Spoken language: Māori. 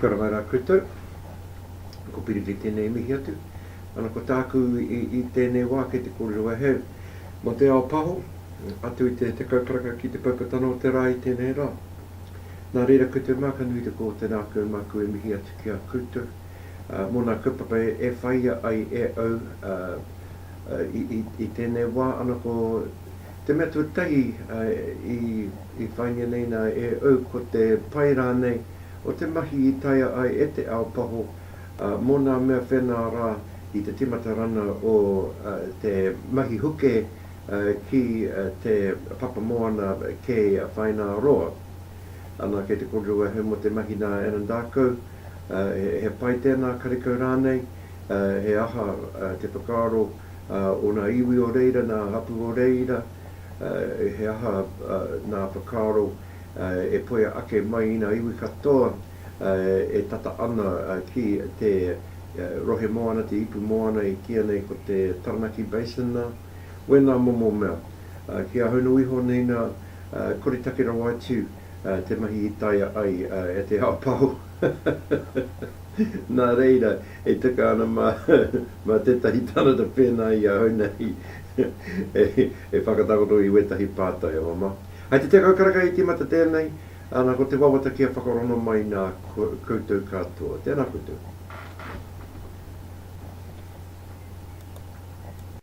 Kia ora mai rā koutou. Ko Piri kei tēnei mihi atu. Ana ko tāku i tēnei wā kei te kōrero e hau mō te ao paho, atu i te tekau karaka ki te paipatana o te rā i tēnei rā. Nā reira koutou mā ka nui te kō tēnā atu e māku e mihi atu ki a koutou mō nā kaupapa e whaia ai e au I tēnei wā ana ko te mea tuatahi i whāingia nei nā e au ko te pai rānei o te mahi i taea ai e te ao paho mō nā mea whenā rā i te tīmata rana o te mahi huke ki te papamoana kei Whaināroa. Anā kei te kōrero ahau mō te mahi nā Anandākau he pai tēnā, karekau rānei. he aha te whakaaro o nā iwi o reira, nā hapū o reira, he aha nā whakaaro e poia ake mai i nā iwi katoa e tata ana ki te rohe moana, te ipu moana i kīia nei ko te Taranaki Basin nā, wēnā momo mea. Ki ahau nō iho nei nā, koretake rawa atu. te mahi i taea ai e te ao pao. Nā reira, e tika ana mā tētahi tāngata pēnā i ahau nei e whakatakoto i wētahi pātai, e māmā. Hai te tekau karaka i tīmata tēnei, ana ko te wawata kia whakarongo mai nā koutou katoa. Tēnā koutou.